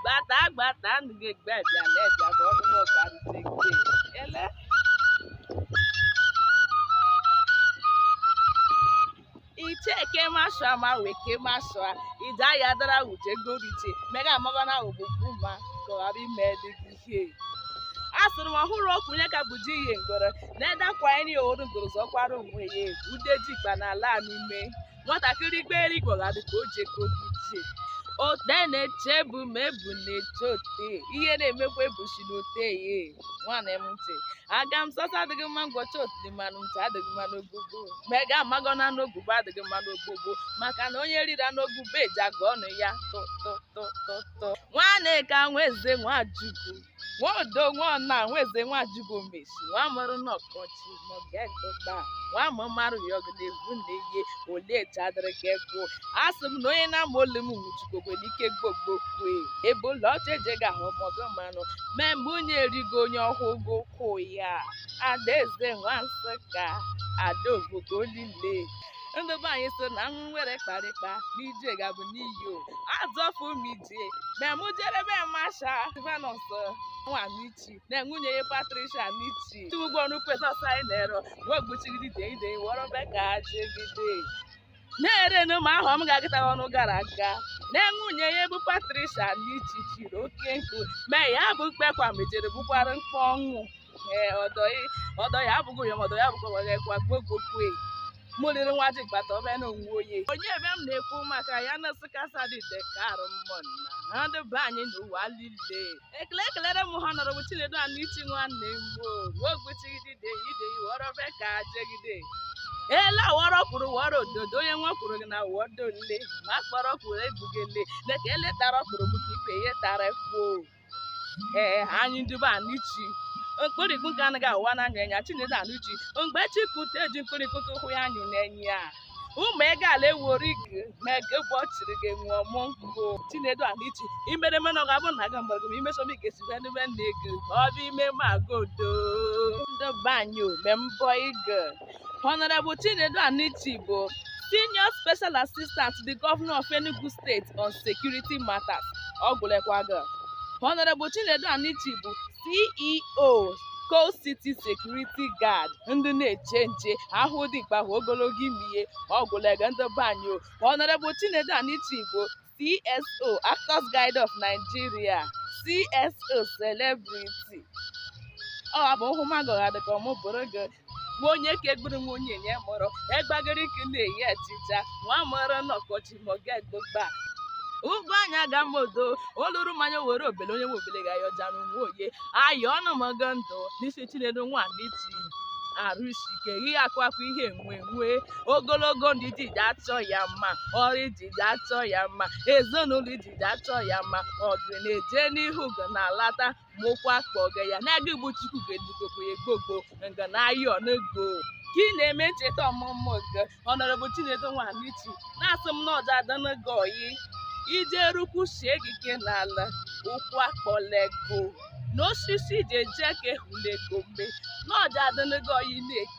gbata gbata ndụ gị egbe bịa na ebịa ka ọnụ m ọga rute gị ele icheke mashua ma weke mashua ija ya dara uche goriche mega amaga na ogbugbu ma ka ọ ghara ime dị gị ihe a sịrị m ọhụrụ okwu onye ka bụ ji ihe ngoro na-edakwa anyị oru ngoro zọkwara onwe ya egwu ude ji ikpa na ala n'ume nwatakịrị gbere igwe ga dị ka o ji ego gị ji ote na-eche bụ ma ebu na-eche ote ihe na-emekwa ebusi na ote ya nwana m ntị aga m sasa adịghị mma ngwọcha otili mmanụ ntị adịghị mma n'ogogo mega amagọ na n'ogubo adịghị mma n'ogogo maka na onye riri anụ ogubo eji agụ ọnụ ya tụtụtụtụtụ nwanne ka nwaeze nwajugo nwaodo nwana nwaeze nwajugo mesi nwa mụrụ n'ọkọchị mọgegụba nwa ma mara ya ọgụ na-egwu na ihe olee etu adịrị ka ekwu asị m na onye na-ama olu m nwụchikogwe n'ike gbogbokwe ebe ụlọ ọcha eje ga-ahụ mọgụ mmanụ mee mgbe onye erigo onye ọhụụ gị ụkwụ ya adaeze nwa nsụka adaobodo olile ndị be anyị so na m were kparịkpa n'ije gabụ n'iyo azọfụ m ije ma mụ jere be masha Silvanus nwa Anichi na nwunye ya Patricia Anichi ugbo ọrụ kwesịsị anyị na-ero mgbe gbuchigide ide ide wọrọ be ka jegide na-erenụ ma ahụ m ga-agịta ọnụ gara aga na nwunye ya bụ Patricia Anichi chiri oke nkụ mee ya bụ mkpekwa mejere bụkwara mkpọ ọnwụ ee ọdọ ya- ọdọ ya abụghị ya ma ọdọ ya bụkwa were kwa gbogbokwe mụrịrị nwa ji kpata ọbịa na onwe onye onye ebe m na-ekwu maka ya na sịkasa dị dekarụ mmụnna ha ndị be anyị n'ụwa lile ekele ekelere m Honorable Chinedu Anichi nwanne m ogbuchigide ide iwọrọ be ka jegide ele awọrọ kwuru wọrọ ododo onye nwa kwuru gị na wọdo nle ma akpọrọ kwuru egbugele na ka ele tara kwuru bụ ka ibe ihe tara kwuo ee anyị ndị be Anichi mkpụrịkpụ nke anaghị awa n'anya ya Chinedu Anichi mgbe chi pụta eji mkpụrịkpụ ka ụkwụ ya anyị na-enye ya ụmụ ego ala ewori gị ma ego bụ ọchịrị gị nwụọ mụ nkụ Chinedu Anichi i mere mena ọ ga-abụ na aga mgbara gị ma imeso m ga-esi bịa n'ime nna ego ọ bụ ime m aga odo ndị be anyị ome mbọ ego Honorable Chinedu Anichi bụ Senior Special Assistant to the Governor of Enugu State on Security Matters ọ gwụlekwa gị Honorable Chinedu Anichi bụ CEO Coal City Security Guard ndị na-eche nche a hụ dimkpa a hụ ogologo imi ya ọgwụlega ndị be anyị o Honorable Chinedu Anichi Igbo CSO Actors Guild of Nigeria CSO Celebrity ọ abụ hụ magụ ha dịka ọmụ bụrụ gị nwa onye ka egburu nwa onye nye mụrụ egbagịrị ka na-eyi achịcha nwa a mụrụ n'ọkọchị ma ọ ga-egbogba ugo anya ga mma odo oluru mmanya were obele onye nwe obele ga-ayọja n'onwe oye ayọ ọnụ m agọ ndụ n'isi chinedu nwa anichi arụsike ihe akụ akụ ihe enwe enwe ogologo ndụ ididi achọ ya mma ọrụ ididi achọ ya mma ezinụlọ ididi achọ ya mma ọgụ na-eje n'ihu gị na-alata mokwa akpa oge ya na-aga igbo chukwu ga-edukoko ya gbogbo nga na ayọ n'ego ka ị na-eme ncheta ọmụmụ gị honorable chinedu nwa anichi na-asị m na ọ ja-adụnụ gị oyi ije rukwu sie gị ike n'ala ụkwụ akpọle gị na osisi ji eje ka ehulego mgbe na ọ ja-adụnụ gị oyi na-eke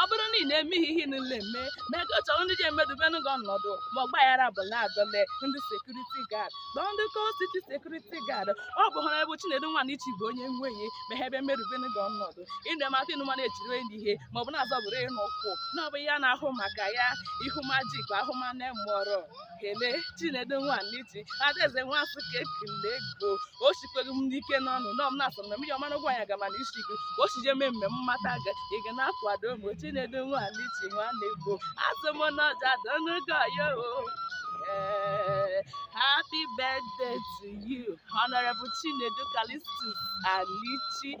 ọ bụrụ na ị na-eme ihe ihe niile eme na ego chọrọ ndị ja-emedubenụ gị ọnọdụ ma ọgbaghara ọ bụla adọle ndị security guard kpọọ ndị coal city security guard ọ bụ honorable chinedu nwa anichi bụ onye nweghị ma ha ebe emedubenụ gị ọnọdụ ịnụ mata ịnụ mana e chiri onye ihe ma ọ bụ na-azọbụrụ ịnụ ụkwụ na ọ bụ ya na-ahụ maka ya ihu majik ahụmanya mụọrọ ekele chinedu nwa anichi adaeze nwa afọ ka ekele gị o sikwere m ike n'ọnụ nọ m na-asị na mmiri mara ugo anya gama na isi gị o si je mee mme mmata ga ị ga na-akwado m chinedu nwa anichi nwanne ego asị m na ọ ja-adụnụ gị oyi Eh, happy birthday to you honorable chinedu callistus anichi